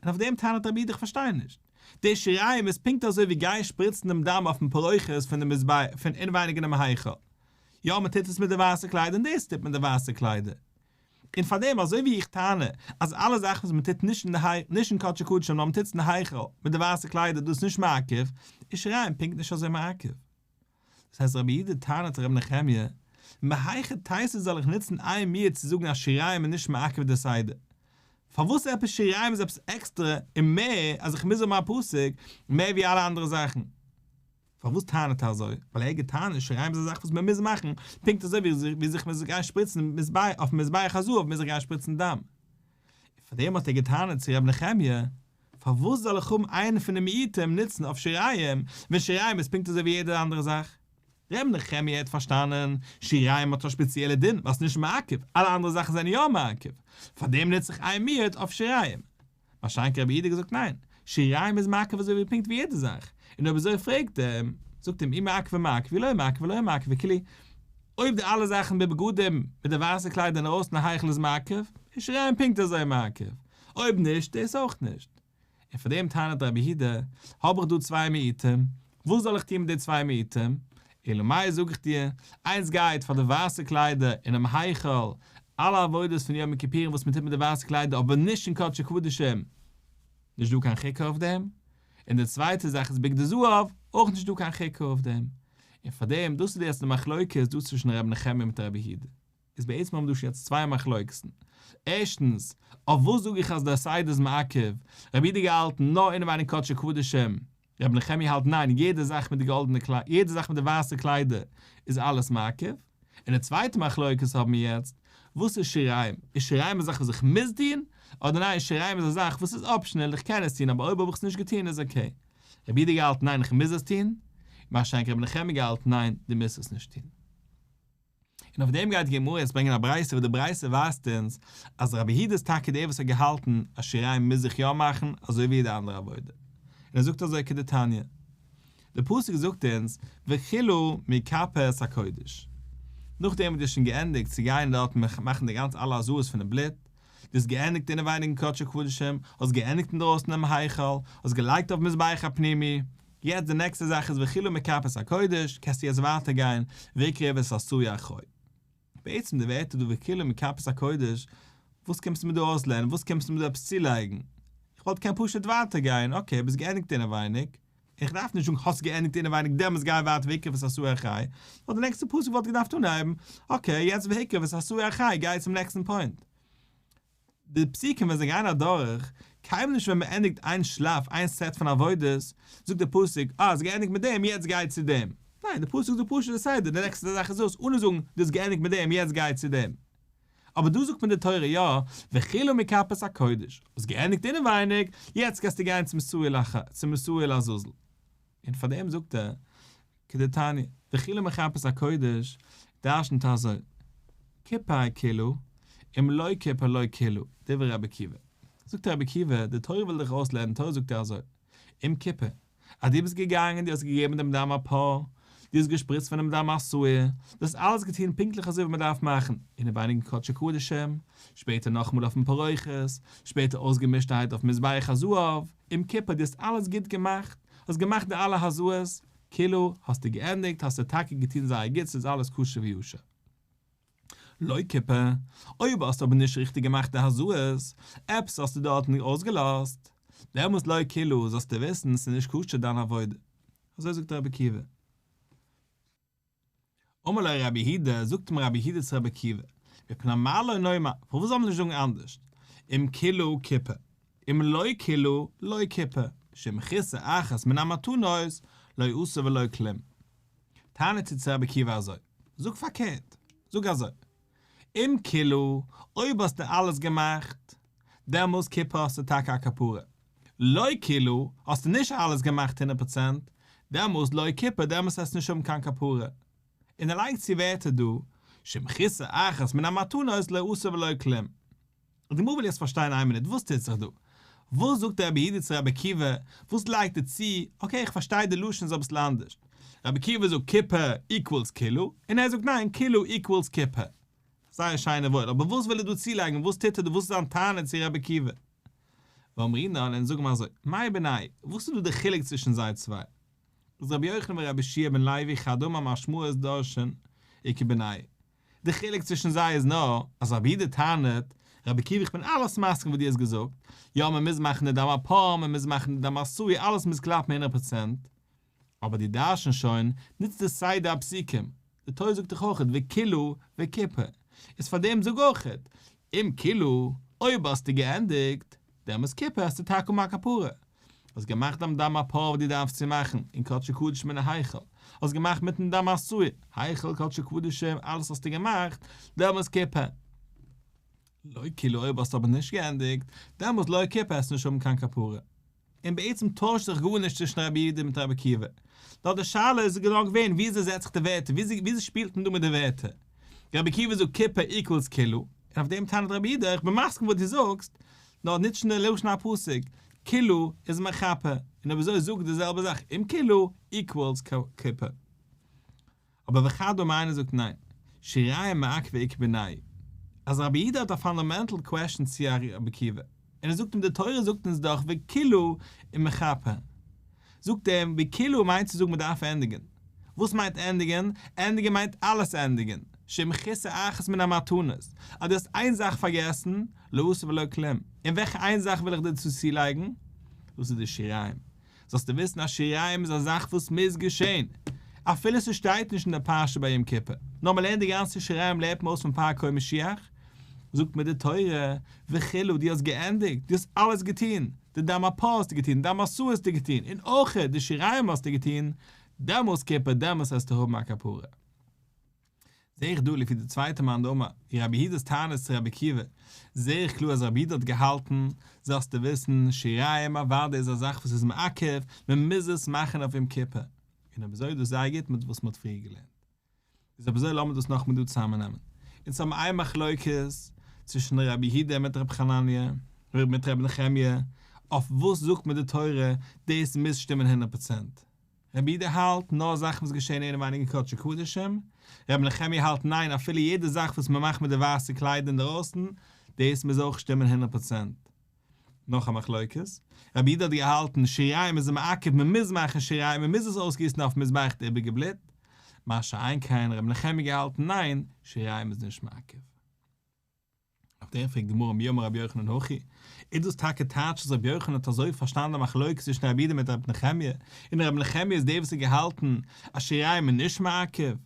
און אויף דעם טענה'ט רבי איד איך פארשטיי נישט. די שיריים איז פונקט אזוי ווי גיין שפריצן דעם דם אויפן פרוכת פון די מזבח פון אינווייניג אינעם היכל. יא מען טוט עס מיט די ווייסע קליידער און דאס טוט מען די ווייסע קליידער. און פארדעם אזוי ווי איך טענה אז אלע זאכן וואס מען טוט נישט אין קדש הקדשים נאר מען טוט עס אין היכל מיט די ווייסע קליידער דאס איז נישט מעכב, איז שיריים פונקט נישט אזוי מעכב. דאס הייסט רבי יהודה טענה'ט רבי נחמיה, מהיכי תיתי זאל איך נוצן איין מינוט צו זאגן אז שיריים איז נישט מעכב די סדר? פארוואס עפעס שיריים איז עפעס עקסטרע און מער אז איך מוז האבן א פסק מער ווי אלע אנדערע זאכן? פארוואס טענה'ט ער אזוי? ווייל ער האט געטענה'ט אז שיריים איז א זאך וואס מען מוז מאכן, פונקט אזוי ווי זיך מ'זאל גיין שפריצן אויפן מזבח הזהב מוז איך גיין שפריצן דם. און פארדעם האט ער געטענה'ט צו רבי נחמיה, פארוואס זאל איך האבן איינע פון די מיעוטים נוצן אויף שיריים, ווען שיריים איז פונקט אזוי ווי יעדע אנדערע זאך? ר' נחמיה האט פארשטאנען, שיריים האט א שפעציעלע דין ווייל ס'איז נישט מעכב, אלע אנדערע זאכן זענען יא מעכב, פארדעם נוץ איך איין מיעוט אויף שיריים. ביי שיינקי רבי איד האט געזאגט ניין, שיריים איז מעכב אזוי ווי פונקט ווי יעדע זאך, און אויב אזוי פרעגט ער, זאגט אים אי מעכבי מעכבי לא מעכבי לא מעכבי וכו', אויב די אלע זאכן בבגדים מיט די ווייסע קליידער אינדערויסן היכל איז מעכב, איז שיריים פונקט אזוי מעכב, אויב נישט, דאס אויך נישט. און פאר דעם טענה'ט רבי יהודה, האב איך דא צוויי מיעוטים, וואס זאל איך טון מיט די צוויי מיעוטים? אלא מאי זאג איך דיר, איינס גייט פאר די ווייסע קליידער אינעם היכל, אלע עבודות פון יום כיפורים וואס מען טוט מיט די ווייסע קליידער אבער נישט אין קדשי קדשים, נישט דא קיין חיקוק אויף דעם, און די צווייטע זאך איז בגדי זהב, אויך נישט דא קיין חיקוק אויף דעם. און פאר דעם, דאס איז די עצם מחלוקת דא צווישן רבי נחמיה מיט רבי יהודה. איז בעצם האבן דא שוין יעצט צוויי מחלוקת'ן. ערשטנס, אויף וואס זאג איך אז דער סייד איז מעכב? רבי איד איז געהאלטן נאר אינעווייניג קדשי קדשים, רבי נחמיה האלט ניין יעדע זאך מיט די גאלדענע קליידער, יעדע זאך מיט די ווייסע קליידער איז אלעס מעכב. און די צווייטע מחלוקת האבן מיר יעצט, וואס איז שיריים? איז שיריים א זאך וואס איך מוז טון? אדער ניין שיריים איז א זאך וואס איז אפשענעל איך קען עס טון אבער אויב האב איך עס נישט געטון איז אקעי. רבי איד האט געהאלטן ניין איך מוז עס טון, מה שאין כן רבי נחמיה האט געהאלטן ניין דו מוזט עס נישט טון. און אויף דעם גייט די גמרא יעצט ברענגען א ברייתא וואס די ברייתא ווייזט אונז אז רבי יהודה איז טאקע דער וואס האט געהאלטן אז שיריים מוז איך יא מאכן אזוי ווי יעדע אנדערע עבודה, און ער זאגט אזוי כדתניא, די פסוק זאגט אונז והחילו מכפות הקודש, נאכדעם וואס דו האסט שוין געענדיגט צו גיין דארט און מאכן די גאנצע אלע עזרות פונעם בלוט, דו האסט געענדיגט אינעווייניג אין קדשי קדשים, האסט געענדיגט אינדרויסן אינעם היכל, האסט געלייגט אויף מזבח הפנימי, יעצט די נעקסטע זאך איז וחילו מכפות הקודש, קענסטו יעצט ווייטער גיין ויקרב את עשוי אחוי. בעצם די ווערטער דא וחילו מכפות הקודש, וואס קומסטו מיר דא אויסלערנען, וואס קומסטו מיר דא עפעס צולייגן, איך וואלט געקענט פשוט ווייטער גיין, אקעי ביסט געענדיגט אינעווייניג, איך דארף נישט זאגן האסט געענדיגט אינעווייניג דעמאלטס גיי ווייטער ויקרב את עשוי אחי, נאר די נעקסטע פסוק וואלט געדארפט אנהייבן, אקעי יעצט והקרב את עשוי אחי גיי צום נעקסטן פוינט. די פסוקים ווען זיי גייען אדורך, קיימען נישט ווען מען ענדיגט איין שלאף, איין סעט פון עבודות, זאגט דער פסוק, אה, האסט געענדיגט מיט דעם, יעצט גיי צו דעם. ניין, דער פסוק זאגט פשוט די סדר, די נעקסטע זאך איז דאס, אנע זאגן, דו האסט געענדיגט מיט דעם, יעצט גיי צו דעם. אבער דא זאגט מיר די תורה יא, וכלו מכפות הקודש, האסט געענדיגט אינעווייניג, יעצט גייסטו גיין צום סוהיל לעזאזל. און פארדעם זאגט ער, כדתניא, די חילול מחפש הקודש דרשנ'ט אזוי, כפר כלו, אם לא כפר לא כלו, דברי רבי עקיבא. זאגט רבי עקיבא, די תורה וויל דיך אויסלערנען, תורה זאגט דיר אזוי, אם כפר, אז דו ביסט געגאנגען, דו האסט געגעבן דעם דם א פאר, דו האסט געשפריצט פון דעם דם א שעיר, דו האסט אלעס געטון פונקטליך אזוי ווי מען דארף מאכן, אינעווייניגן קדשי קדשים, שפעטער נאכאמאל אויפן פרוכת, שפעטער אויסגעמישטערהייט אויף מזבח הזהב, אום כיפור דו האסט אלעס גוט געמאכט, האסט געמאכט די אלע הזיות, כאילו האסטו געענדיגט, האסטו טאקע געטון זייער גוט ס'איז אלעס כשר ויושר. לויט כיפור, אויב האסטו אבער נישט ריכטיג געמאכט די הזיות, עפעס האסטו דארט נישט אויסגעלאזט, דעמאלס לויט כיפור זאלסטו וויסן ס'איז נישט כשר דיין עבודה. אזוי זאגט ר' עקיבא. אמר לו רבי היהודה, זאגט אים רבי היהודה צו רבי עקיבא, מפני מה לא נאמר, פארוואס זאל מען נישט זאגן אנדערש, אם כילו כיפה, אם לא כילו לא כיפה, משום כיסא אחת מן המתנות, לא עשו ולא כלום. טענה'ט ער צו רבי עקיבא אזוי, זאג פארקערט, זאג אזוי. אם כלא, אויב האסטו אלעס געמאכט, דעמאלס כיפ ה האסטו טאקע א כפרה. לא כלא, האסטו נישט אלעס געמאכט הונדערט פראצענט, דעמאלס לא כיפ ה, דעמאלס וועסטו נישט האבן קיין כפרה. און ער לייגט צו ווערטער דא, שמחיסה אחת מן המתנות לא עשה ולא כלום. די גמרא וויל יעצט פארשטיין איין מינוט וואס טוט זיך דא? וואס זאגט דער רבי איד צו רבי עקיבא? וואס לייגט ער צו? אקעי איך פארשטיי די לשון איז אביסל אנדערש, רבי עקיבא זאגט כיפה איקוועלס כלו, און ער זאגט ניין כלו איקוועלס כיפה. זייער שיין און וואויל, אבער וואס וויל ער דא צולייגן? וואס טוט ער דא? וואס איז זיין טענה צו רבי עקיבא? ואמרינן און זאגן מיר אזוי, מאי בינאי, וואס איז דא די חילוק צווישן זיי צוויי? איז רבי יוחנן ורבי ישעי' בן לוי חד אמר משמעות דרשן איקא בינאי, די חילוק צווישן זיי איז נאר אז רבי יהודה טענה'ט, רבי עקיבא איך בין אלעס מסכים וואס דו האסט געזאגט, יא מען מוז מאכן די דם א פאר, מען מוז מאכן די דם א סוי, אלעס מוז קלאפן הונדערט פראצענט, אבער דו דרש'נסט שוין, נוצט דו סיי די הפסוקים, די תורה זאגט דאך אויכעט וקילו וקיפא, איז פארדעם זאג אויכעט, אם קילו, אויב האסטו געענדיגט, די יום כיפור האסטו טאקע אן א כפרה? האסט געמאכט דעם דם א פאר וואס דו דארפסט צו מאכן אין קדשו קדשים אין היכל, האסט געמאכט מיטן דם א סוה, היכל, קדשו קדשים, אלעס האסטו געמאכט די יום כיפור. לא כאילו אויב האסטו אבער נישט געענדיגט, דעמאלס לא כיפור העסטו נישט האבן קיין כפרה. און בעצם טוישט זיך גארנישט צווישן רבי יהודה מיט רבי עקיבא. נאר די שאלה איז גענוי געווען וויאזוי זעט זיך די ווערטער, וויאזוי שפילט מען דא מיט די ווערטער. רבי עקיבא זאגט כיפה איקוועלס כלו, און אויף דעם טענה'ט רבי אידא איך בין מסכים וואס דו זאגסט, נאר ניטש אין די לשון הפסוק, כלו איז מכפה, און אויב אזוי זאג די זעלבע זאך אום כלו איקוועלס כיפה. אבער וכדו' מיינער זאגט ניין, שיריים מעכבי עקבי ניי. אז רבי אידא האט א פאנדאמענטל קוועשאן צו רבי עקיבא. און ער זאגט אים די תורה זאגט אונז דאך וקילא און מכפר, זאגט ער אים וקילא מיינט צו זאגן מען דארף ענדיגען, וואס מיינט ענדיגען? ענדיגען מיינט אלעס ענדיגען, שמכיסה אחת מן המתנות, אז דו האסט איין זאך פארגעסן, לא עשה ולא כלם, און וועלכע איין זאך וויל איך דיר צו צולייגן? דאס איז די שיריים, זאלסטו וויסן אז שיריים איז א זאך וואס מוז געשען, אפילו ס'שטייט נישט אין די פרשה ביי יום כיפור, נאר מ'לערנט די גאנצע שיריים לעבט מען אויס פון פאר קום משיח, זאגט מיר די תורה, וכו', דו האסט געענדיגט, דו האסט אלעס געטון, די דם הפה האסטו געטון, דם עשו האסטו געטון, און אויך די שיריים האסטו געטון, דעמאלס כיפור, דעמאלס העסטו האבן א כפרה. זעה איך דא לפי די צווייטע מאן דאמר ווי רבי יהודה'ס טענות צו רבי עקיבא, זעה איך קלאר אז רבי יהודה האט געהאלטן, זאלסטו וויסן, שיריים אוודאי איז א זאך וואס איז מעכב, מען מוז עס מאכן אויף יום כיפור, און אויב אזוי איז דאס זייער גוט מיט וואס מען האט פריער געלערנט. איז אויב אזוי לאמיר דאס נאכמער דא צוזאמענעמען. אונז האבן איין מחלוקת צווישן רבי יהודה מיט רבי חנניה, און מיט רבי נחמיה, אויף וואס זאגט מען די תורה, דאס מוז שטימען הונדערט פראצענט. רבי אידא האלט נאר זאכן וואס געשעהן אינעווייניגע קדשי קדשים, רבי נחמיה האלט ניין אפילו יעדע זאך וואס מען מאכט מיט די ווייסע קליידער אינדערויסן דאס מוז אויך שטימען הונדערט פראצענט. נאך א מחלוקת. רבי אידא האט געהאלטן שיריים איז א מעכב מען מוז מאכן שיריים מען מוז עס אויסגיסן אויפן מזבח די איבריגע בלוט, מה שאין כן רבי נחמיה געהאלטן ניין שיריים איז נישט מעכב. אויף דעם פרעגט גמרא מי אמר רבי יוחנן הכי, איז דאס טאקע טייטש אז רבי יוחנן האט אזוי פארשטאנען די מחלוקת צווישן רבי יהודה מיט רבי נחמיה, און רבי נחמיה איז דער וואס האט געהאלטן אז שיריים איז נישט מעכב?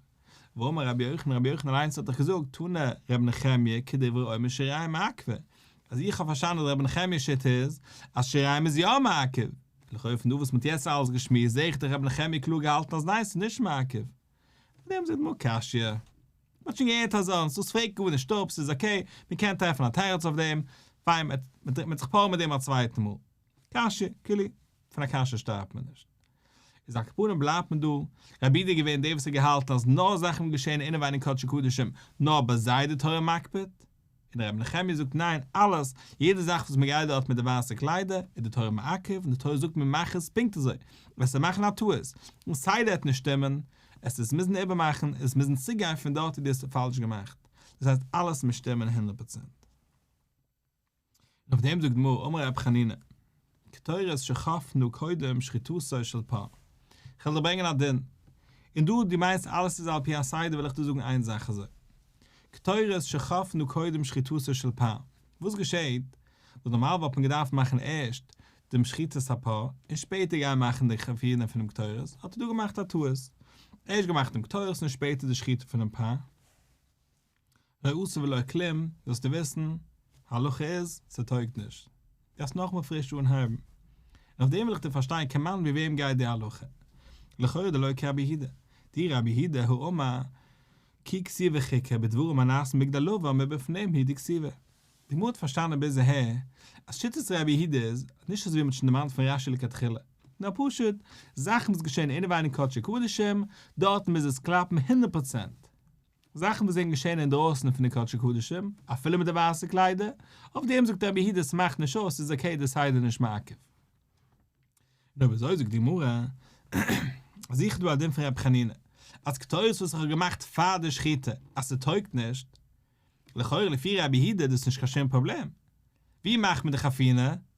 ואמר רבי יוחנן, רבי יוחנן אליינס האט דאך געזאגט, תנא רבי נחמיה כדברי אומר שיריים מעכבה, אז איך האב פארשטאנען אז רבי נחמיה'ס שיטה איז אז שיריים איז יא מעכב, לכאו' פון דא וואס מען האט יעצט אלעס געשמועסט זעה איך דאך רבי נחמיה קלאר געהאלטן אז ניין ס'איז נישט מעכב. פארדעם זעט מיר קשיא. מ'האט שוין געהערט אזאנס, דאס פרעגט גארנישט אפ, ס'איז אקעי, מ'קען טרעפן א תירוץ אויף דעם, פיין, מ'דרינקט מען זיך פאר מיט דעם א צווייטן מאל. קשיא, כאילו, פון א קשיא שטארבט מען נישט. איז על כפנים בלייבט מען דא, רבי איד איז געווען דער וואס האט געהאלטן אז נאר זאכן וואס געשעהן אינעווייניג קדשי קדשים, נאר ביי זיי איז די תורה מקפיד. און ר' נחמיה זאגט ניין, אלעס, יעדע זאך וואס מען גייט דארט מיט די ווייסע קליידער, איז די תורה מעכב, און די תורה זאגט מען מאך עס פונקט אזוי, וועסטו מאכן א טעות, און סיי די וועט נישט שטימען, עס וועסט מוזן איבערמאכן, און עס מוזן צוריקגיין פון דארט ווי די האסט עס פאלש געמאכט, דאס הייסט אלעס מוז שטימען הונדערט פראצענט. און אויף דעם זאגט די גמרא, אמר רבי חנינא, קטורת שחפנו קודם שחיטותו של פר. כ'וועל דיר ברענגען א דין, און דא דו מיינסט אלעס איז על פי הסדר וועל איך דיר זאגן איין זאך אזוי, קטורת שחפנו קודם שחיטותו של פר, וואס געשעהט, וואס נארמאל וואלט מען געדארפט מאכן ערשט דעם שחיטת הפר, און שפעטער גיין מאכן די חפיר'ן פונעם קטורת, האט ער דא געמאכט א טעות, ערשט געמאכט דעם קטורת און שפעטער די שחיטה פונעם פר. לא עשה ולא כלום, זאלסטו וויסן, הלכה איז, ס'טויגט נישט. גייסט נאכאמאל פריש אנהייבן. און אויף דעם וויל איך דיר פארשטיין כמיין ווי וועם גייט די הלכה. לכאורה דלא כרבי הידע. די רבי הידע הוא אמר כי כסיבה חיקה בדברים הנעשים בגדלובה מבפנים היא דכסיבה. די גמרא האט פארשטאנען ביז אהער אז שיטת רבי הידע איז, נישט אזויווי מ'האט שוין דערמאנט פון רשי לכתחילה, נאר פשוט, זאכן וואס געשען אינעווייניג קדשי קדשים, דארטן מוז עס קלאפן הונדערט פראצענט. זאכן וואס זענען געשען אינדרויסן פון די קדשי קדשים, אפילו מיט די ווייסע קליידער, אויף דעם זאגט רבי היד עס מאכט נישט אויס, ס'איז אקעי די סדר איז נישט מעכב. נו ווי אזוי זאגט די גמרא, זיכער דא א דין פון רבי חנינא, אז קטורת וואס איך האב געמאכט פאר די שחיטה אז ס'טויגט נישט, לכאורה לפי רבי היד איז דאס נישט קיין שום פראבלעם, ווי מאכט מען די חפינה?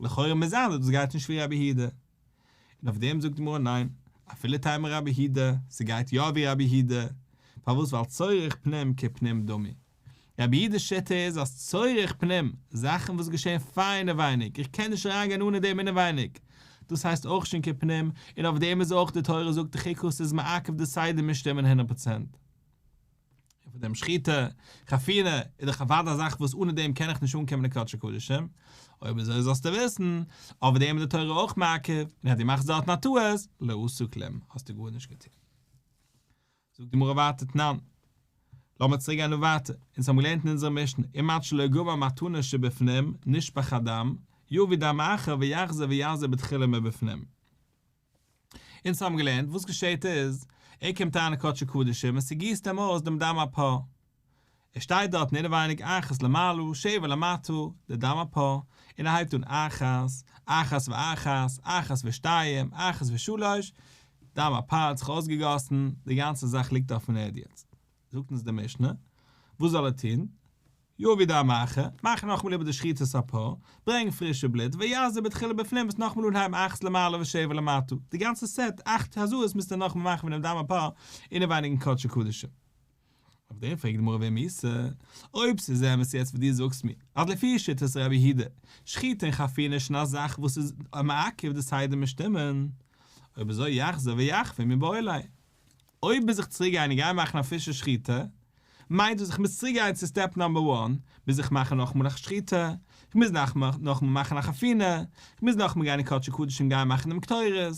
לכאורה מוז זיין אז דאס גייט נישט ווי רבי היהודה. און אויף דעם זאגט די גמרא ניין, אפילו טעמא רבי היהודה, ס'גייט יא ווי רבי היהודה, פארוואס ווייל צורך פנים כפנים דמי. רבי היהודה'ס שיטה איז אז צורך פנים, זאכן וואס געשעהן פאר אינעווייניג, איך קען נישט אריין גיין אנע דעם אינעווייניג, דאס הייסט אויך שוין כפנים, און אויף דעם איז אויך די תורה זאגט דחיקות איז מעכב די סדר מיט שטימען הונדערט פראצענט. און פון דעם שחיטה, חפירה, איז דאך אוודאי א זאך וואס אנע דעם קען איך נישט אנקומען אין קדשי קדשים, אויב אזוי זאלסטו וויסן, אויף דעם איז די תורה אויך מעכב, און אז דו מאכסט דארטן א טעות, לא עשו כלום, האסטו גארנישט געטון. זאגט די גמרא ווייטער תנן. לאמיר צוריק גיין דא ווייטער, אונז האבן געלערנט אין אונזערע משנה, אם עד שלא גבה מתנה שבפנים, נשפך הדם, יביא דם אחר ויחזיר ויעזור בתחילה מבפנים. אונז האבן געלערנט, וואס געשעהט איז, ער קומט אריין אין קדשי קדשים און ס'גיסט אים אויס דעם דם אפו. ער שטייט דארטן אינעווייניג אחת למעלה שבע למטה, די דם אפו, און ער הייבט אן אחת, אחת ואחת, אחת ושתיים, אחת ושלוש, דם אפו האט זיך אויסגעגאסן, די גאנצע זאך ליגט אויפן ערד יעצט. זאגט אונז די משנה, וואס זאל ער טון? יביא די המאחה, מאך נאכאמאל איבער די שחיטת הפר, ברענג פרישע בלוט, ויעזב את כולו בפנים, וועסט נאכאמאל אנהייבן אכט למעלה ושבע למטה, די גאנצע סעט אכט הזיות מוזט איר נאכאמאל מאכן פון דעם דם הפר אינעווייניגן קדשי קדשים. אויף דעם פרעגט די גמרא ווער מוז? אויב ס'איז אמת יעצט וואס דו זאגסט מיר, אז לפי שיטת רבי יהודה, שחיטה און חפירה איז שוין א זאך וואס איז מעכב די סדר משתומם, אויב אזוי יחזור ויחפיר מבעולי. אויב מוז איך צוריק גיין און גיין מאכן א פרישע שחיטה, מיינט דאס איך מוז צוריק גיין צו סטעפ נאמבער וואן, מוז איך מאכן נאכאמאל א שחיטה, איך מוז נאכאמאל מאכן א חפינה, איך מוז נאכאמאל גיין אין קדשי קדשים גיין מאכן דעם קטורת.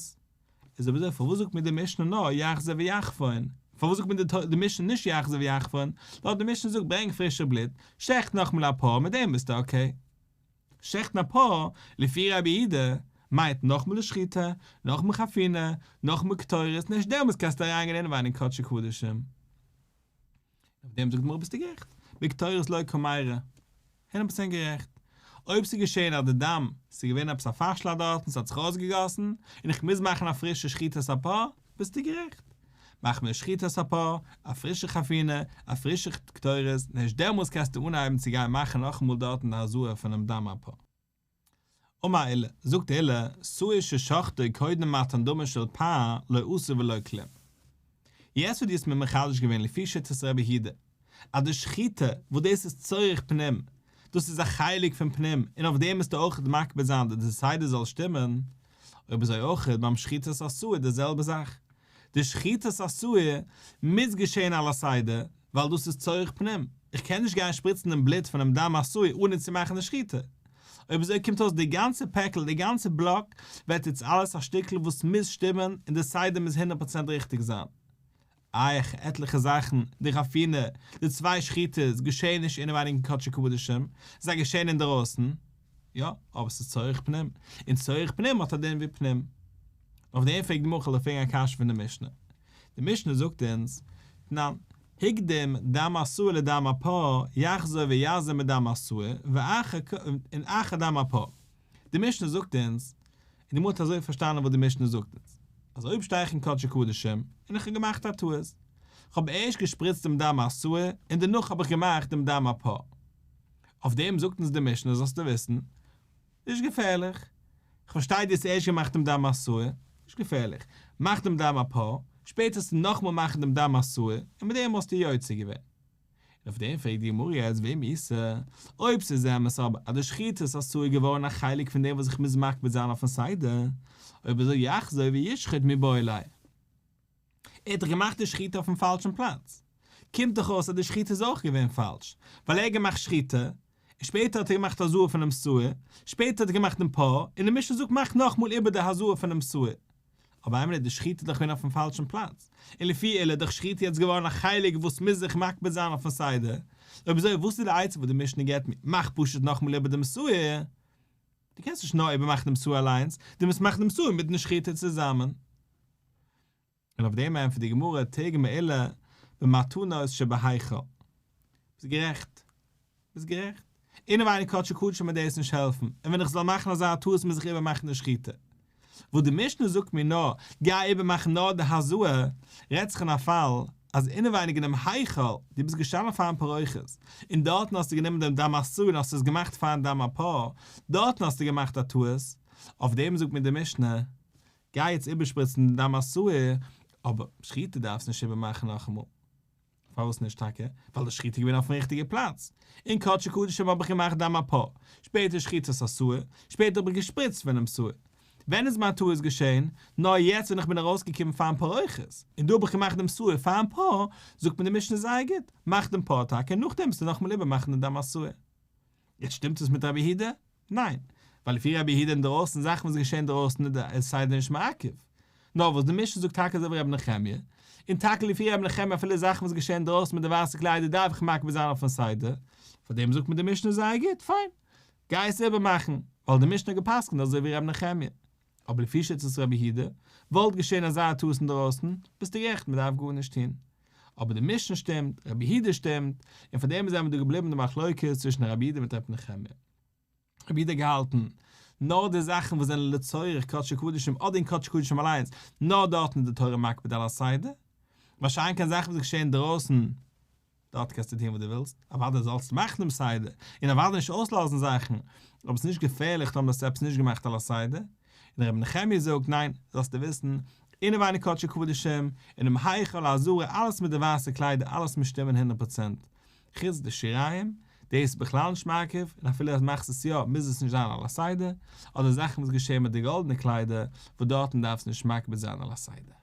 איז אויב אזוי פארוואס זאגט מיר די משנה נאר יחזה ויחפון? פארוואס זאגט מיר די משנה נישט יחזה ויחפון? לויט די משנה זאגט ברענג פרישע בלוט, שעכט נאכאמאל א פאר, מיט דעם ביסטו אקעי. שחט'ן א פא לפי רבי אידא מיינט נאך מלא שחיטה, נאך מלא חפינה, נאך מלא קטורת, און ערשט דעמאלס קענסטו אריין גיין אינעוויין אין קדשי קדשים. אויף דעם זאגט די גמרא ביסטו גערעכט, בקטורת לא כמירא. הונדערט פראצענט גערעכט. אויב ס'איז געשען אז די דם, ס'איז געווען עפעס א פארשלאג דארטן, ס'האט זיך אויסגעגאסן, און איך מוז מאכן א פרישע שחיטת א פא, ביסטו גערעכט. מאך מער שחיטות ע פ א פרישע חפינה, א פרישע קטורת, און הערשט דעמאלס קענסטו אנהייבן צו גיין מאכן נאכאמאל דארטן די הזאה פונעם דם ע פ וממילא זאגט די עילאה סאה ש שחטו קודם מתן דמו של פ א לא אסור ולא כלום. יעצט וואס דו האסט מיר מחדש געווען לפי שיטת רבי הידא. אז די שחיטה וואס דאס איז צורך פנים, דאס איז א חלק פון פנים און אויף דעם מוזטו אויך מקפיד זיין אז די סדר זאל שטימען, אויב אזוי אויך ביים שחיטת עשוי די זעלבע זאך, די שחיטת עשוי מוז געשעהן על הסדר ווייל דאס איז צורך פנים, איך קען נישט גיין שפריצן דעם בלוט פונעם דם עשוי אנע צו מאכן די שחיטה, אויב אזוי קומט אויס די גאנצע פעקל די גאנצע בלאק ווערט איצט אלעס א שטיקל וואס מוז שטימען און די סדר מוז הונדערט פראצענט ריכטיג זיין. אייך עטליכע זאכן, די חפינה, די צוויי שחיטות, געשעעניש אינעווייניגן קדשי קדשים, ס'איז א געשעען אינדערויסן, יא, אבער ס'איז צורך פנים, און צורך פנים האט א דין ווי פנים. אויף דעם פרעגט מח ל פרעגן א קשיא פון די משנה. די משנה זאגט אונז, תנן, הקדים דם עשוי לדם עפר, יחזור ויעזור מדם עשוי, ואחר כ, און אחר דם עפר. די משנה זאגט אונז, און די מוט אזוי פארשטאנען וואס די משנה זאגט אונז, אז אויב שטיי איך אין קדשי קדשים און איך האב געמאכט א טעות, כ'האב ערשט געשפריצט דעם דם האסור און דערנאך האב איך געמאכט דעם דם הפור. אויף דעם זאגט אונז די משנה זאלסטו וויסן, נישט געפערליך, כ'פארשטיי דו האסט ערשט געמאכט דעם דם האסור, נישט געפערליך, מאך דעם דם הפור, שפעטער זאלסטו נאכמאל מאכן דעם דם האסור און מיט דעם וואלסטו יוצא געווען. און אויף דעם פרעגט די גמרא יעצט וועם איסר? אויב ס'איז אמת אבער אז די שחיטה איז אסור איז געווארן א חלק פון דעם וואס איך מוז מקפיד זיין אויפן סדר, אויב אזוי יחזור וישחט מבעליו. ער האט דאך געמאכט די שחיטה אויפן פאלשן פלאץ. קומט דאך אויס אז די שחיטה איז אויך געווען פאלש, ווייל ער האט געמאכט שחיטה און שפעטער האט ער געמאכט א זוהר פונעם סוער, שפעטער האט ער געמאכט דעם פאה, און די משנה זאגט מאך נאכמאל איבער די הזוהר פונעם סוער. אבער האמת די שחיטה איז דאך געווען אויפן פאלשן פלאץ, און לפי עליה איז דאך שחיטה יעצט געווארן א חלק וואס מוז זיך מקפיד זיין אויפן סדר, אויב אזוי וואס איז די עצה וואס די משנה געבט מיר, מאך פשוט נאכמאל איבער דעם סוער, דו קענסט נישט נאר איבערמאכן דעם סוער אליינס, דו מוזט מאכן דעם סוער מיטן שחיטה צוזאמען. און אויף דעם ענטפערט די גמרא תיגע מעילה במתנות שבהיכל. ביסט גערעכט. ביסט גערעכט. אינעווייניג כאטש איך קדשו מיר דאס נישט העלפן, און ווען איך זאל מאכן אזא טעות מוז איך איבערמאכן די שחיטה. וואס די משנה זאגט מיר נאר, גיי איבערמאכן נאר די הזוה, רעדט זיך אין א פאל אז אינעווייניג אין דעם היכל, דו ביסט געשטאנען פארן פרוכת, און דארטן האסטו גענומען דעם דם הסוה און האסט עס געמאכט פארן דם הפר, דארטן האסטו געמאכט א טעות. אויף דעם זאגט מיר די משנה, גיי יעצט איבערשפריצן די דם עשוי, אבער שחיטה דארפסט נישט איבערמאכן נאכאמאל. פארוואס נישט טאקע? ווייל די שחיטה איז געווען אויפן ריכטיגע פלאץ. אין קדשי קדשים האב איך געמאכט דם אפאר, שפעטער שחיטת עשוי, שפעטער האב איך געשפריצט פון דם עשוי. ווען איז מיין טעות געשען? נאר יעצט ווען איך בין ארויסגעקומען פארן פארעוכות, און דא האב איך געמאכט דם עשוי פארן פאה, זאגט מיר די משנה זייער גוט, מאך דעם פאה טאקע, נאכדעם וועסטו נאכאמאל איבערמאכן די דם עשוי. יעצט שטימט עס מיט רבי יהודה? ניין, ווייל לפי רבי יהודה אינדרויסן זאכן וואס געשעהן אינדרויסן איז די סדר נישט מעכב. נאר וואס די משנה זאגט טאקע אזוי ווי רבי נחמיה. און טאקע לפי רבי נחמיה אפילו זאכן וואס געשעהן אינדרויסן מיט די ווייסע קליידער דארף איך מקפיד זיין אויפן סדר. פאר דעם זאגט מיר די משנה זייער גוט, פיין. גיי עס איבער מאכן, ווייל די משנה האט געפסקנט אזוי ווי רבי נחמיה. אבער לפי שיטת רבי יהודה, וואלט געשען אזא טעות אינדערויסן, ביסטו גערעכט מען דארף גארנישט טון. אבער די משנה שטימט, רבי יהודה שטימט, און פאר דעם איז אמאל דא געבליבן די מחלוקת צווישן רבי יהודה מיט רבי נחמיה. רבי יהודה האט געהאלטן, נאר די זאכן וואס זענען לצורך קדשי קדשים אדער אין קדשי קדשים אליינס, נאר דארטן איז די תורה מקפיד על הסדר, מה שאין כן זאכן וואס געשען אינדערויסן דארט קענסטו טון וואס דו ווילסט, אוודאי זאלסטו מאכן דעם סדר, און אוודאי נישט אויסלאזן זאכן, אבער עס איז נישט געפערליך טאמער האסטו עפעס נישט געמאכט על הסדר, און רבי נחמיה זאגט, ניין, זאלסטו וויסן, אינעווייניג קדשי קדשים, אינעם היכל העזרה אלעס מיט די ווייסע קליידער אלעס מוז שטימען הונדערט פראצענט, חוץ די שיריים, דאס איז בכלל נישט מעכב, און אפילו אז מאכסט עס יא מוז עס נישט זיין על הסדר, אדער זאכן וואס געשעהן מיט די גאלדענע קליידער, וואס דארטן דארפסטו נישט מקפיד זיין על הסדר.